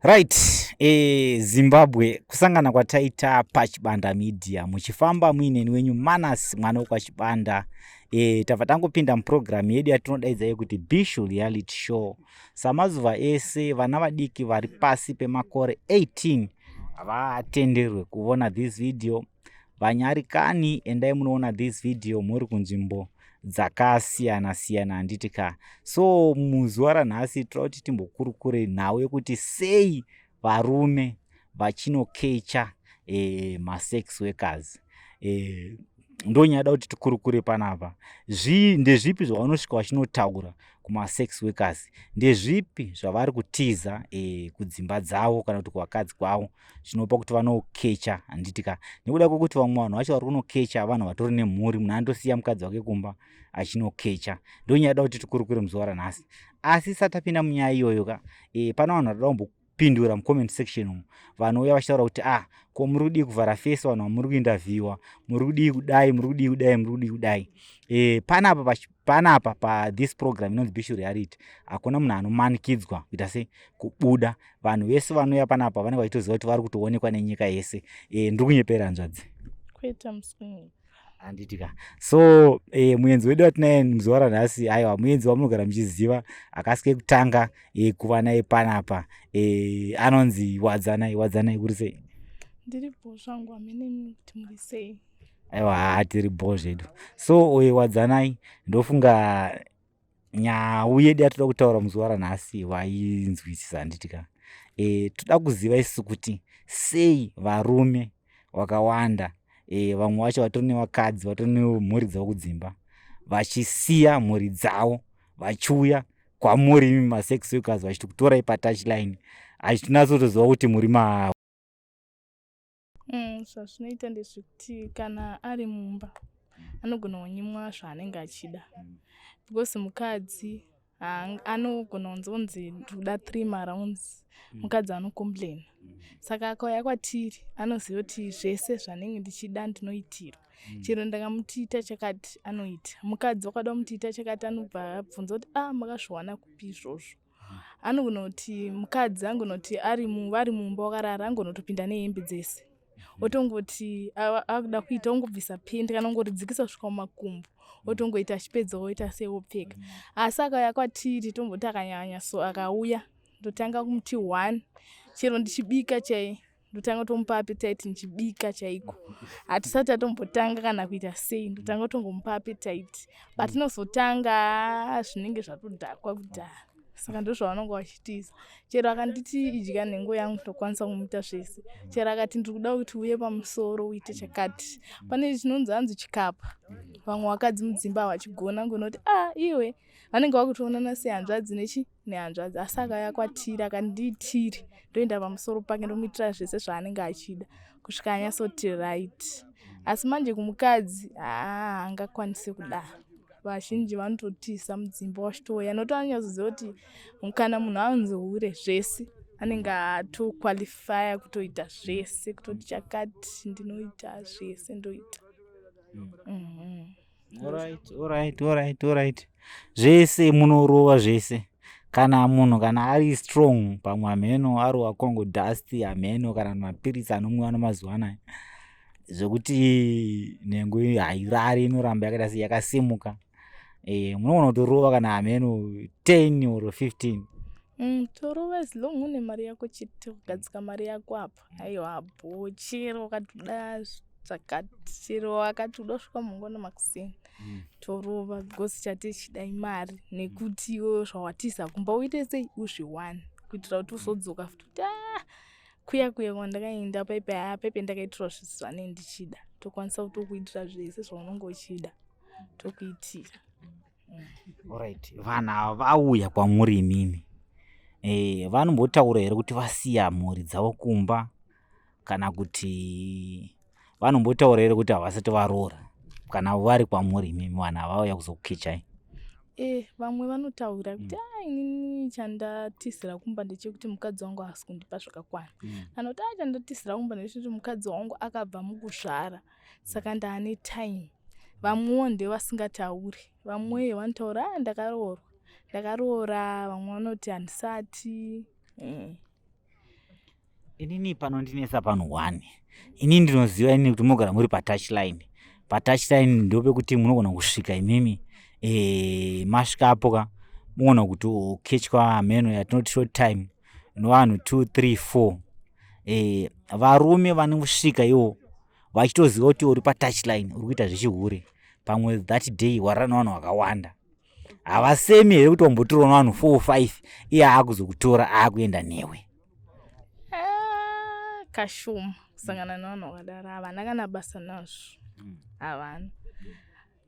Right, e, Zimbabwe kusangana kwataita pachibanda media muchifamba muineni wenyu Manas mwana wekwachibanda e, tabva tangopinda muprogramu yedu yatinodaidza yekuti Bishu Reality Show. Samazuva ese vana vadiki vari pasi pemakore 18 havatenderwe kuvona this video vanyarikani endai munoona this video muri kunzvimbo dzakasiyana siyana handiti ka so muzuva ranhasi tira kuti timbokurukure nhau yekuti sei varume vachinokecha e, masex workers e, ndonyada kuti tikurukure panapa zvi ndezvipi zvavanosvika vachinotaura kumasex workers ndezvipi zvavari kutiza e, kudzimba dzavo kana kuti kuvakadzi kwavo zvinopa kuti vanokecha handiti ka nekuda kwekuti vamwe vanhu vacho vari kunokecha vanhu vatori nemhuri munhu anotosiya mukadzi wake kumba achinokecha ndonyaya da kuti tikurukure muzuva ranhasi asi satapinda munyaya iyoyo ka e, pana vanhu vatoda kumbo pindura mucomment section umu vanouya vachitaura kuti ah ko muri kudii kuvhara fesi vanhu vamuri kuindavhiwa muri kudii kudai muri kudii kudai muri kudii kudai e, panapa panapa pa this program inonzi bishu reality hakuna munhu anomanikidzwa kuita se kubuda vanhu vese vanouya panapa vanenge vachitoziva kuti vari kutoonekwa nenyika yese e, ndiri kunyepera hanzvadzi kuita musingi handitika so e, muenzi wedu watinaye muzuva ranhasi aiwa muenzi wamunogara muchiziva akasike kutanga e, kuva naye panapa e, anonzi wadzanai wadzanai kuri sei ndiri bho zvangu amene kuti muri sei aiwa haa tiri bho zvedu so uye wadzanai ndofunga nhau yedu yatoda kutaura muzuva ranhasi wainzwisisa handiti ka e, toda kuziva isu kuti sei varume vakawanda e, vamwe vacho vatori nevakadzi vatori nemhuri dzavo kudzimba vachisiya mhuri dzavo vachiuya kwamuri imi masex workers vachiti kutorai patouchline achitinatsotoziva kuti muri maavo Mm, zvazvinoita ndezvekuti kana ari mumba anogona kunyimwa zvaanenge achida mm. because mukadzi anogona kunzonzi ndikuda three marounds mm. mukadzi anocomplaina mm. saka akauya kwatiri anoziva kuti zvese zvanenge ndichida ndinoitirwa mm. chero ndakamutiita chakati anoita mukadzi wakada kumutiita chakati anobva abvunza kuti a ah, makazviwana kupi izvozvo anonoti mukadzi angonoti ari vari mumba wakarara angonotopinda nehembe dzese mhm. otongoti akuda kuita ongobvisa pendi kana ongoridzikisa kusvika mumakumbo mhm. otongoita achipedza oita seopfeka mhm. asi akauya kwatiri tomboti akanyanya so akauya ndotanga kumuti one chero ndichibika chai ndotanga tomupa apetite ndichibika chaiko hatisati atombotanga kana kuita sei ndotanga tongomupa apetite but mm. inozotanga zvinenge zvatodhakwa kudhara saka ndozvavanonga vachitiza chero akanditi idya nhengo yangu ndokwanisa kumuita zvese chero akati ndiri kuda kuti uye pamusoro uite chakati pane chinonzi hanzi chikapa vamwe vakadzi mudzimba havachigona ngonoti a ah, iwe vanenge vakutoonana sehanzvadzi nechi nehanzvadzi asi akaya kwatiri akandiitiri ndoenda pamusoro pake ndomuitira zvese zvaanenge achida kusvika anyasoti right asi manje kumukadzi haa angakwanise kudaro vazhinji vanototiza mudzimba wachitouya noto anonyatsoziva kuti kana munhu anzi hure zvese anenge atoqualifya kutoita zvese kutoti chakati ndinoita zvese ndoita mm. mm -hmm. zvese munorova zvese kana munhu kana ari strong pamwe hameno arova kongo dust hameno kana mapiritsi anomwiwa nomazuva anaya zvekuti nhengo hairari inoramba yakaita se yakasimuka e, munogona kutorova kana hameno 10 or 15 mm, torova as long une mari yako chete kugadzika mari yako apa apa mm. aiwa bho chero wakatoda zvakati chero wakati uda kusvika mangwana makuseni mm. torova because chati chida imari nekuti iwo zvawatiza kumba uite sei uzviwani kuitira kuti uzodzoka futi kuti ah, kuya kuya kwandakaenda paipe haa paipe ndakaitirwa zvisu zvanei ndichida tokwanisa kutokuitira zvese zvaunenge uchida tokuitira Alright, vanhu ava vauya kwamuri imimi e, vanombotaura here kuti vasiya mhuri dzavo kumba kana kuti vanombotaura here kuti havasati varoora kana vari kwamuri imimi vanhu ava vauya kuzokukichai e, vamwe vanotaura kuti mm. a inini chandatizira kumba ndechekuti mukadzi wangu haasi kundipa zvakakwana mm. kana kuti a chandatizira kumba ndechekuti mukadzi wangu akabva mukusvara saka mm. ndaane time vamwewo nde vasingatauri vamwe mm. vanotaura ah, ndakaroorwa ndakaroora vamwe vanoti handisati eh. inini pano ndinesa panhu one ini ndinoziva ini kuti mogara muri patouch line patouch line ndopekuti munogona kusvika imimi e, masvika apo ka mogona kuti ukechwa hameno yatinoti short time nevanhu two three four e, varume vanosvika iwo vachitoziva kuti uri patouchline uri kuita zvechihure pamwe that day warara nevanhu vakawanda havasemi here kuti wambotorwa nevanhu four or five iye aakuzokutora aakuenda newe ah, kashuma kusangana nevanhu vakadaro havana kana basa nazvo hmm. havana mm.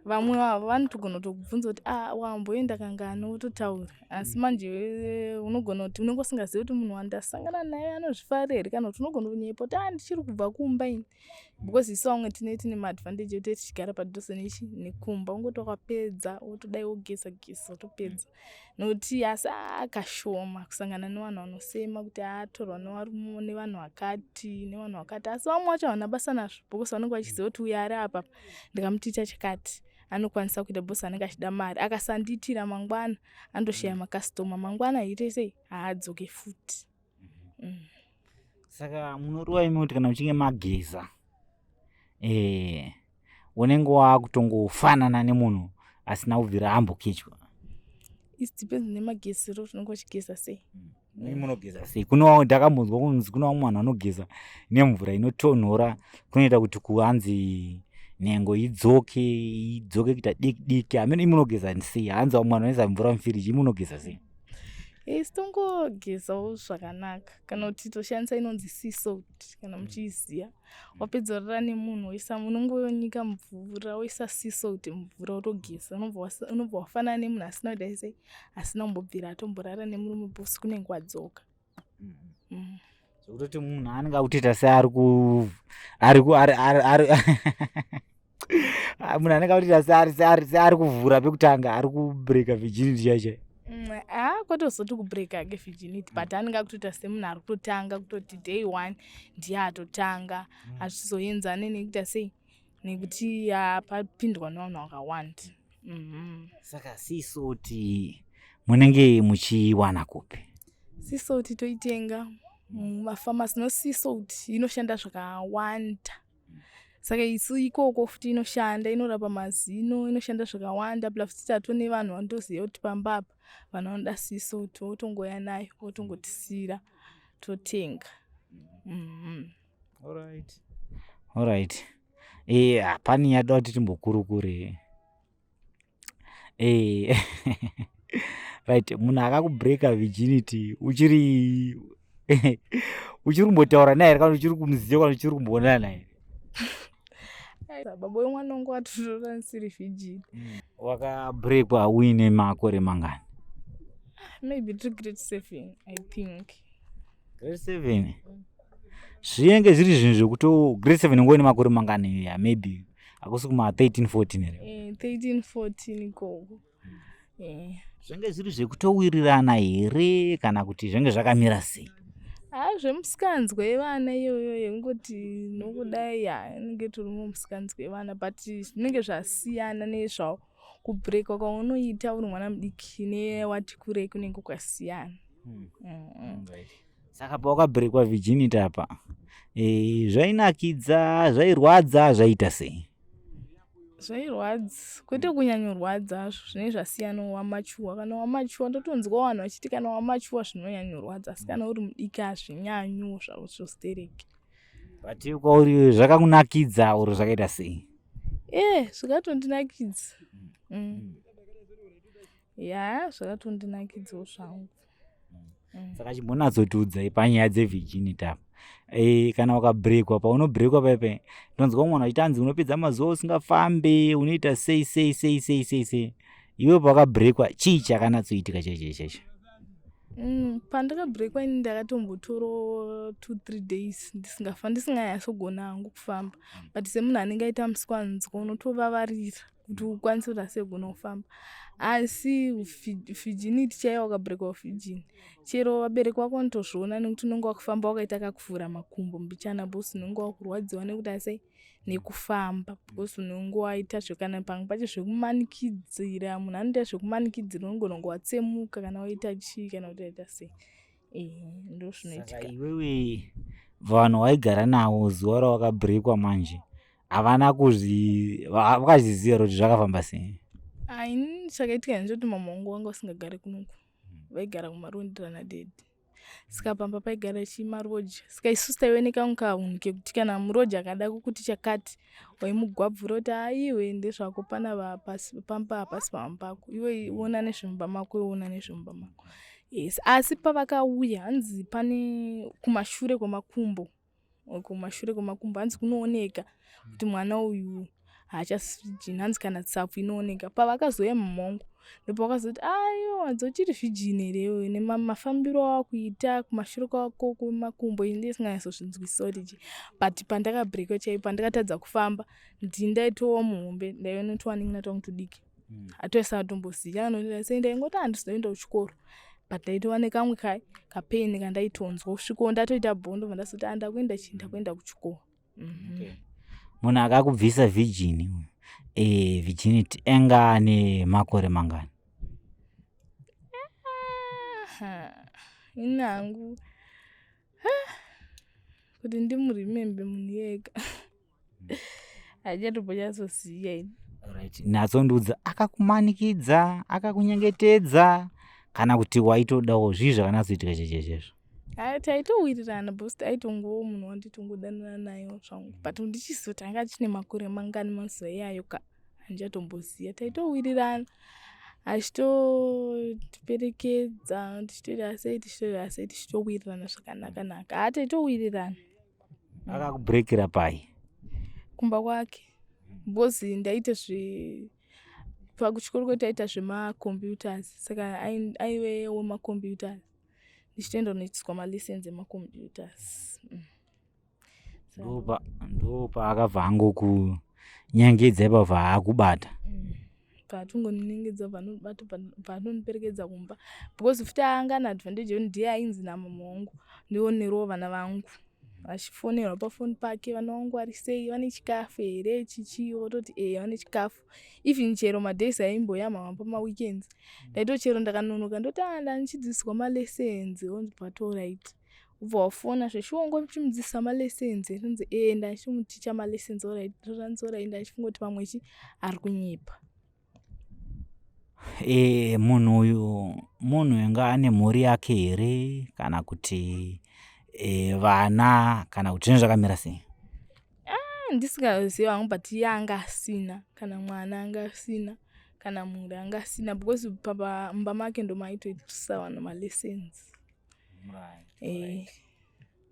vamwe vavo vanotogona kutokubvunza kuti ah, wamboenda kangani wototaura asi mm. manje eh, unogona kuti unenge usingazivi kuti munhu wandasangana naye anozvifarira here kana kuti unogona kunyepa kuti ah, ndichiri kubva kumba ini because isu vamwe tine tine maadvantage ekuti tichigara padhuze nechi nekumba ungoti wakapedza wotodai wogeza geza wotopedza nokuti asi ah, kashoma kusangana nevanhu vanosema kuti atorwa ah, nevarumo nevanhu vakati nevanhu vakati asi vamwe vacho havana basa nazvo because vanenge vachiziva kuti uya ari apapa ndikamutoita chikati anokwanisa kuita bos anenge achida mari akasandiitira mangwana andoshaya mm. makastoma mangwana aite sei haadzoke futi mm-hmm. mm. saka munoriwa imi kuti kana muchinge mageza e, unenge wakutongofanana nemunhu asina kubvira ambokichwa its depends nemagezero tinonge uchigeza sei mm. imi munogeza sei kuno ndakambonzwa kunzi kuno vamwe vanhu vanogeza nemvura inotonhora kunoita kuti kuhanzi nhengo idzoke idzoke kuita diki diki hameno imi munogeza sei hanzi vamwe vanhu vanoisa mvura mufiriji imi munogeza sei isi tongogezawo zvakanaka kana kuti toshandisa inonzi sea salt kana muchiiziva wapedza orara nemunhu woisa unonge wonyika mvura woisa siso kuti mvura wotogeza unobva wafanana nemunhu asina kudai sei asina kumbobvira atomborara nemurume bosi kunenge wadzoka mm-hmm. mm. zvekutoti munhu anenge akutoita seari ku ari ku ari ari munhu anenge akutoita seari kuvhura pekutanga ari kubreaka virginity chaichai haa kwatozoti kubreaka ke virginity but anenge akutoita semunhu ari kutotanga kutoti day one ndiye atotanga hazvizoenzane mm. nekuita sei nekuti apapindwa nevanhu vakawanda mhm. saka sisoti munenge muchiwana kupi sisoti toitenga mumafamasi mm, nosisoti inoshanda zvakawanda saka isu ikoko futi inoshanda inorapa mazino inoshanda zvakawanda pla futi tato nevanhu vandoziva kuti pamba apa vanhu vanoda siso totongoya nayo votongotisira totenga mm-hmm. alright alright e eh, hapani yada kuti timbokurukure eh right munhu akakubreaker virginity uchiri uchiri kumbotaura naye here kana uchiri kumuziva kana uchiri kumboonana naye baba wemwana wangu watotora ndisiri virgin mm. wakabreakwa uine makore mangani maybe to great seven i think great seven mm. zvinenge zviri zvinhu zvekuti grade seven ngove nemakore mangani ya maybe hakusi kuma 13 14 here 13 14 ikoko zvinenge zviri zvekutowirirana here kana kuti zvinenge zvakamira sei haa ah, zvemusikanzwa yevana iyoyo yekungoti nokudai ya inenge toriwo musikanzwa yevana but zvinenge zvasiyana nezvao kubrekwa kwaunoita uri mwana mudiki newati kurei kunenge kwasiyana hmm. mm. mm. saka pawakabrekwa virginity apa e, zvainakidza zvairwadza zvaita sei zvairwadza kwete kunyanyorwadza zvo zvinenge zvasiyana wamachuwa kana wamachuwa ndotonzwa vanhu vachiti kana wamachuwa zvinonyanyorwadza asi kana uri mudiki hazvinyanyo zvavo zvostereki but kwauri zvakakunakidza or zvakaita sei e eh, zvakatondinakidza mm. mm. ya zvakatondinakidzawo zvangu mm. saka chimbonatsotiudzai panyaya dzevirginity apa e, kana ukabrekwa paunobrekwa paipe ndonzwa mwana achiti anzi unopedza mazuva usingafambe unoita sei sei sei sei sei sei iwe pawakabrekwa chii chakanatsoitika chaicho chaicho Mm, pandakabreakwa ini ndakatombotoro two three days ndisingafa ndisinganyasogona hangu kufamba mm. but semunhu anenge aita musikwanzwa unotovavarira kuti ukwanise kuti asi ugona kufamba asi virginity chaiyo wakabreak virgin chero vabereki wako vanotozviona nekuti unenge wakufamba wakaita kakuvhura makumbo mbichana bcause unenge wakurwadziwa nekuti asi nekufamba bcause unenge waita zvekana pamwe pacho zvekumanikidzira munhu anoita zvekumanikidzira unogona kunge watsemuka kana waita chii kana kuti waita sei ehe ndozvinoitika iwewe vanhu waigara navo zuva rawakabreakwa manje havana kuzvivakazviziva kuti zvakafamba sei aini chakaitika ini choti mama wangu wanga usingagare kunoku vaigara kumarondera nadedi saka pamba paigara chimaroja saka isusu taive nekaunkaunhu kekuti kana muroja akada kukuti chakati waimugwabvura kuti aiwe ndezvako pana vapasi pamba hapasi pamba pako iwe iona nezvemumba mako iona nezvemumba mako yes asi pavakauya hanzi pane kumashure kwemakumbo kumashure kwemakumbo hanzi kunooneka kuti mwana uyu haachasijini hanzi kana tsapfu inooneka pavakazouya mumhongo ndopavakazoti aiwa dzochiri zvijini here iyoyo nemafambiro awakuita kumashure kwako kwemakumbo ini ndisinganyatsozvinzwisisa kuti chii but pandakabreakiwa chaipo pandakatadza kufamba ndindaitowa muhombe ndaive notowaningi natowa mutudiki atoisa hmm. atomboziva anoenda ingoti handizoenda kuchikoro but ndaitova nekamwe kai kapain kandaitonzwa kusviko ndatoita bhondo vandazoti andakuenda chii ndakuenda kuchikoro mhm. munhu akakubvisa virgini e, eh, virginity anga ane makore mangani ini hangu kuti ndimuremembe munhu yega hajatombonyatsosiya ini right natsondiudza akakumanikidza akakunyengetedza kana kuti waitodawo zvii zvakanatsoitika chechezvezvo Ah, taitowirirana bcause taitongowo munhu wanditongodanana nayo zvangu but ndichizotanga achine makore mangani mazuva iyayo ka handichatomboziva taitowirirana achitotiperekedza tichitoita sei tichitoita sei tichitowirirana zvakanakanaka ha ah, taitowirirana akakubreakira pai kumba kwake because ndaita zve pakuchikoro kwe taita zvemacomputers saka aive wemacomputers ndichitoenda kunoitiswa malessons emacomputers mm. ndopa ndopa akabva angokunyangidza ipabva akubata mm. paatongoniningidza paanondiperekedza kumba because futi aanga na advantage yekuti ndiye ainzi namama wangu ndionerewo vana vangu vachifonerwa pafoni pake vana vangu vari sei vane chikafu here chichii vototi e vane chikafu even chero madays aimboya mama pamaweekends ndaitochero ndakanonoka ndoti anda ah, ndichidzidziswa malessons onzi patoright ubva wafona zveshuwa ngo chimudzidzisa malessons rinzi ee ndachimuticha malessons oranzora enda achifunga kuti pamwe chi ari kunyepa e, munhu uyu munhu inga ane mhuri yake here kana kuti e, vana kana kuti zvinhu zvakamira sei ah, ndisingazivi hangu but iye anga asina kana mwana anga asina kana mhuri anga asina because pamba make ndomaitoitisa vanhu malessons eh,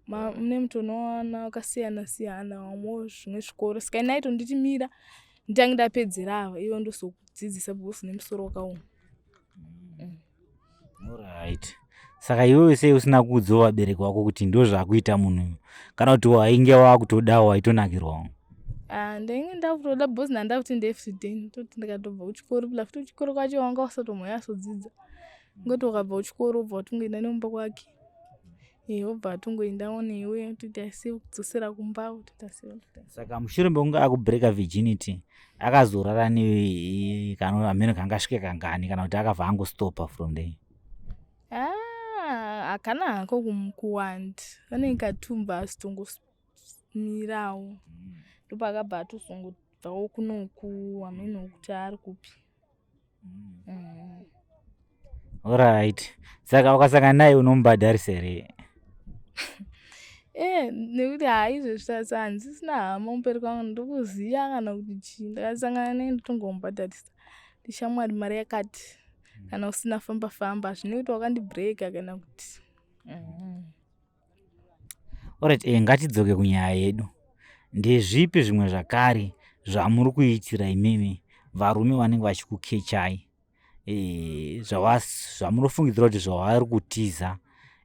mune mntu unowana wakasiyana siyana wamwe zvimwe zvikoro saka inai tonditi mira nditange ndapedzera ava ivo ndozokudzidzisa because une musoro wakaoma mm. mm. right saka iwewe sei usina kuudzawo vabereki wako kuti ndo zvakuita munhu uyu kana kuti wainge wakutodawo waitonakirwawo ah, ndainge ndakutoda bcause ndanda kuti ndefrday ndoti ndikatobva kuchikoro pla futi kuchikoro kwacho wanga usatomhoya asodzidza ngoti wakabva kuchikoro obva watongoenda nemumba kwake iye obva atongoenda one iwe toita se kudzosera kumba toita se saka mushure mekunge akubreaka virginity akazorara ne kana amene kanga asvike kangani kana kuti akabva angostopa from there ah, hakana hako kuwanda anenge katumba asitongomirawo mm. ndopaakabva atozongobvawo kunoku amene okuti ari kupi Alright. Saka ukasangana naye unomubhadharisa here? Eh, nekuti haizvezvi sasa handisisina hama kumberi kwangu ndikuziva kana kuti chii ndakasangana naye ndotongomubhadharisa ndishamwari mari yakati kana usina famba famba hazvine kuti wakandibreaka kana kuti mm. Alright, eh, ngatidzoke kunyaya yedu. Ndezvipi zvimwe zvakare zvamuri kuitira imimi varume vanenge vachikukechai eh, zvavas- zvamunofungidzira kuti zvavari kutiza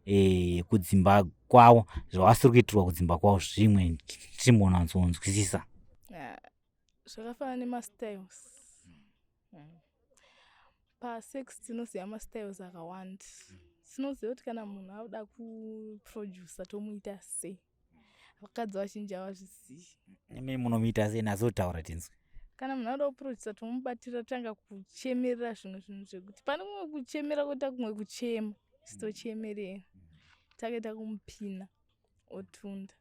eh, kudzimba kwavo zvavasiri kuitirwa kudzimba kwavo zvimwe timbonanzonzwisisa Ah, zvakafanana nemastyles Hmm. Pasex tinoziva mastyles akawanda. Hmm. Tinoziva kuti kana munhu akuda kuproducer tomuita sei. Vakadzi vazhinji havazvizivi. Imi munomuita sei nazotaura tinzwe. kana munhu anoda kuproducer tomubatira tanga kuchemerera zvimwe zvinhu zvekuti pane kumwe kuchemera kuita kumwe kuchema sitochemerera takaita kumupina otunda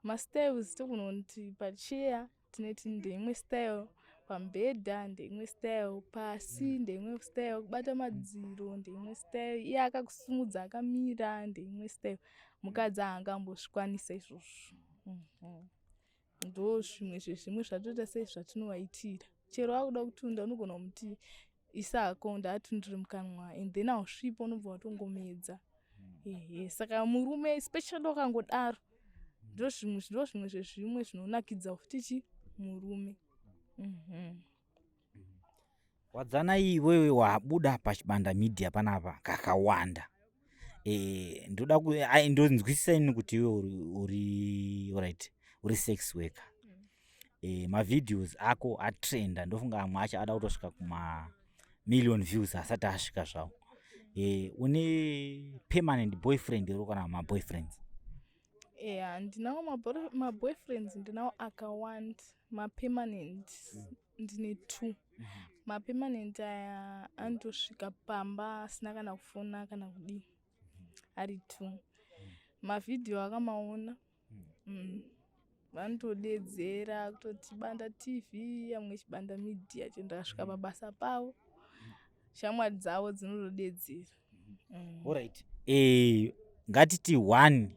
mastyles tokunoti pacheya tinoti ndeimwe style pamubhedha ndeimwe style pasi mm. ndeimwe style kubata madziro ndeimwe style iye akakusimudza akamira ndeimwe style mukadzi aangambozvikwanisa izvozvo mhm. ndo zvimwe zvezvimwe zvatoita sei zvatinovaitira chero akuda kutunda unogona kumuti isa hako ndaatundiri mukanwa and then ausvipa unobva watongomedza ehe saka murume especially wakangodaro ndo zvimwe ndo zvimwe zvezvimwe zvinonakidza futi chi murume mhm. wadzanai iwewe wabuda pachibanda media panapa kakawanda eh, ndoda ndonzwisisa ini kuti iwe uri right uri sex worker eh, mavideos ako atrenda ndofunga amwe acho ada kutosvika kuma million views asati asvika zvawo eh, une permanent boyfriend iro kana maboyfriends yeah ndinawo maboyfriends ndinawo akawand mapermanent mm. ndine two mapemanent aya anotosvika pamba asina kana kufona kana kudii ari two mavhidhiyo akamaona mm. vanotodedzera kutoti banda tv amwe chibanda media chendakasvika pabasa pavo shamwari dzavo dzinotodedzera mm. orit e, eh, ngatiti one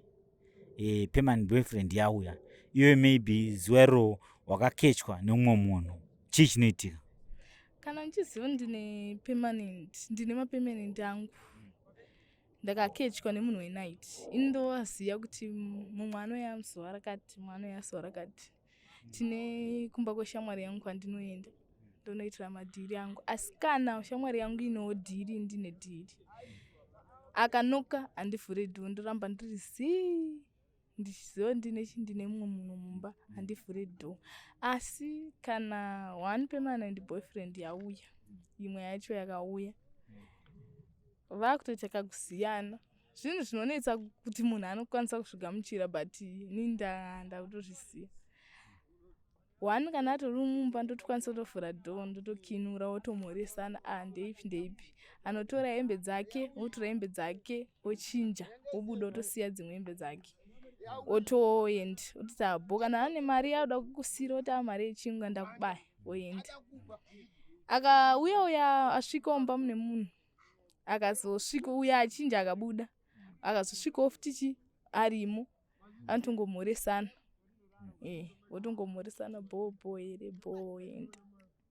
e, permanent boyfriend yauya iwe maybe zuwero wakakechwa neumwe munhu chii chinoitika kana ndichiziva ndine permanent ndine mapermanent angu ndakakechwa nemunhu wenight ini ndovaziva kuti mumwe anoya zuva rakati mumwe anoya zuva rakati tine kumba kweshamwari yangu kwandinoenda ndonoitira madhiri angu asi kana shamwari yangu inewo dhiri ndine dhiri akanoka handivhure dhoo ndoramba ndiri zii ndichiziva ndine chi ndine mumwe munhu mumba handivhure dhoo asi kana one pemana ndi boyfriend yauya imwe yacho yakauya vakutoita kakusiyana zvinhu zvinonetsa kuti munhu anokwanisa kuzvigamuchira but ni ndakutozvisiya one kana atori mumba ndotokwanisa kutovhura do ndotokinura wotomhoresana a ah, ndeipi ndeipi anotora hembe dzake wotora hembe dzake wochinja wobuda wotosiya dzimwe hembe dzake otoend ototi abo ah, kana ane mari yaoda kukusira oti a ah, mari yechingwa ndakubaya oenda akauya uya asvika omba mune munhu akazosvika uya achinja akabuda akazosvikawo futichi arimo anotongomhoresana eh, votongomhoresana bho bho here bho ende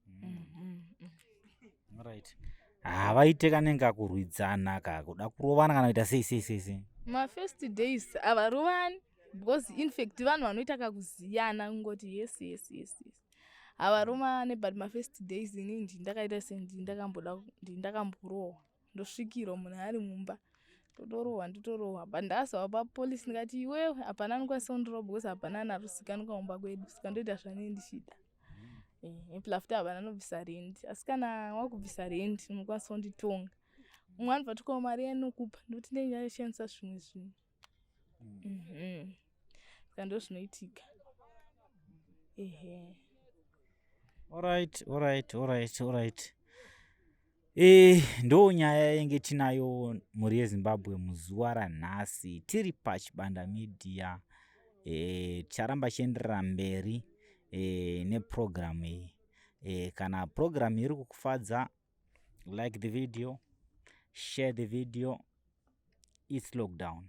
mm, mm, mm. right havaite kanenge akurwidzana ka kuda kurovana kana kuita sei sei sei sei mafirst days havarovani because infact vanhu vanoita kakuziyana kungoti yes yes yes yes havaruma ne but mafirst days ini ndi ndakaita sendi ndakamboda ndi ndakamborohwa ndosvikirwa munhu ari mumba totorohwa nditorohwa but ndasava papolice ndikati iwe hapana anokwanisa kundiroba bcause hapana anarusikanwa mumba kwedu saka ndoita zvanei ndichida eh, plafta havana anobvisa rendi asi kana wakubvisa rendi unokwanisa kunditonga umwe anobva tokawo mari yanokupa ndoti ndenge ndashandisa zvimwe zvinhu Mhm. Saka ndozvinoitika. Ehe. Alright, alright, alright, alright. E, ndo nyaya yenge tinayo mhuri yezimbabwe muzuva ranhasi tiri pachibanda media e, ticharamba chienderera mberi e, nepurogiramu iyi e, kana purogiramu iri kukufadza like the video share the video its lockdown